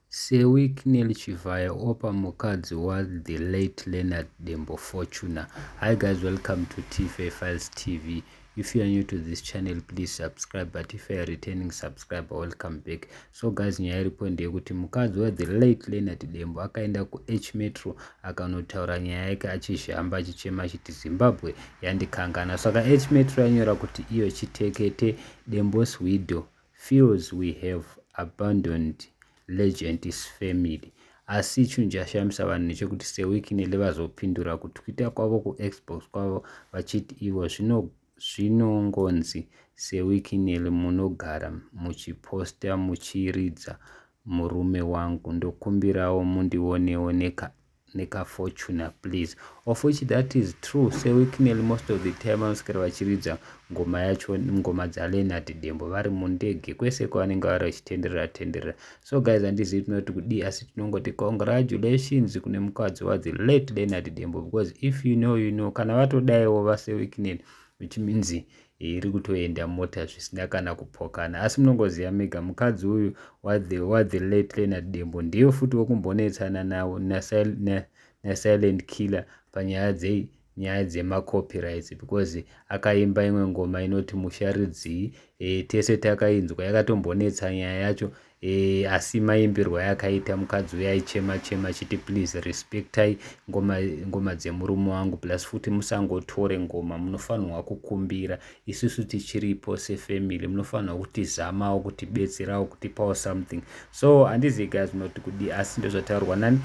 seWicknell Chivhayo Oppah mukadzi wathe late Leonard Dembo Fortuner Hi guys welcome to Tife Files TV if you are new to this channel please subscribe but if you are returning subscriber welcome back so guys nyaya iripo ndeyekuti mukadzi wathe late Leonard Dembo akaenda kuH Metro akanotaura nyaya yake achizhamba achichema achiti Zimbabwe yandikangana saka H Metro yanyora kuti iyo chitekete Dembo's widow feels we have abandoned legend's family asi chinhu chashamisa vanhu nechekuti seweeknely vazopindura kutwita kwavo kuxbox kwavo vachiti ivo zvinongonzi seweeknely munogara muchiposta muchiridza murume wangu ndokumbirawo mundionewo nekaep nekafortuner please of which that is true sewicknel most of the time vanoswera vachiridza ngoma yacho ngoma dzaleonard dembo vari mundege kwese kwavanenge vari vachitenderera tenderera so guys handizivi tinoti kudii asi tinongoti congratulations kune mukadzi wadzi late leonard dembo because if you know you know kana vatodaiwo vasewicknel which means iri kutoenda mota zvisina kana kupokana asi munongoziva mega mukadzi uyu wadheletlena dembo ndiyo futi wekumbonetsana nawo nasilent killer panyaya dzei nyaya dzemacopyrights because akaimba imwe ngoma inoti musharidzii e, tese takainzwa yakatombonetsa nyaya yacho E, asi maimbirwa yakaita mukadzi uya aichema chema achiti please respectai ngoma, ngoma dzemurume wangu plus futi musangotore ngoma munofanirwa kukumbira isusu tichiripo sefamily munofanirwa kutizamawo kutibetserawo kutipawo something so handizivi guys munoti kudii asi ndozvataurwa nani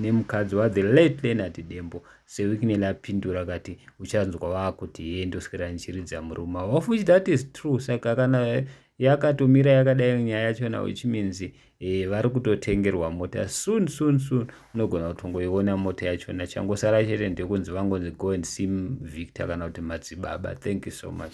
nemukadzi ne wathe late lenati dembo sewikineli apindura kati uchanzwa vakuti hee ndoswera ndichiridza murume of which that is true saka kana yakatomira yakadai nyaya yachona which means eh, vari kutotengerwa mota soon soon soon unogona kutongoiona mota yachona changosara chete ndekunzi vangonzi go and see victor kana kuti madzibaba thank you so much